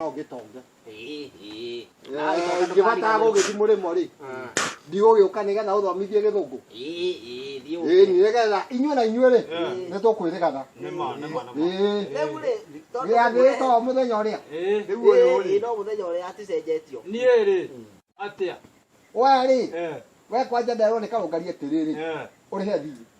no ngitonge ngĩbatara gũgĩthi mũrĩmo rĩ ndigũgĩũka nĩgetha ũthomithie gĩthũngũ ĩni nĩgetha inyuĩ na inyuĩ rĩ nĩ tũkwĩrĩgana gĩathĩrĩte o mũthenya ũrĩa no mũthenya ũrĩa aticenjetio niä rä atä a we rĩ we kwanja nderwo nĩ karũngari atĩrĩrĩ ũrĩhe thiirĩ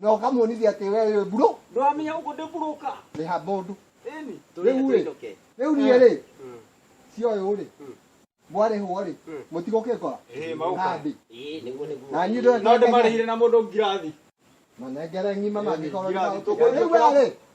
na ũkamuonithia atĩ we wĩ burũ ndwamenya ũguo ndĩ burũka nĩ ha mũndũ ĩni Tũrĩe Rĩu-ĩ. tũicoke. rĩu niĩ rĩ Mm. cioyũ rĩ Mm. mwarĩhwo rĩ Mm. mũtigũkĩngora Ĩĩ, maũka. nandĩ Ĩĩ, nĩguo nĩguo. na niĩ no ndĩmarĩhire na mũndũ ngirathi manengere ng'ima mangĩkorwo Ngirathi, tũkũ- rĩu we rĩ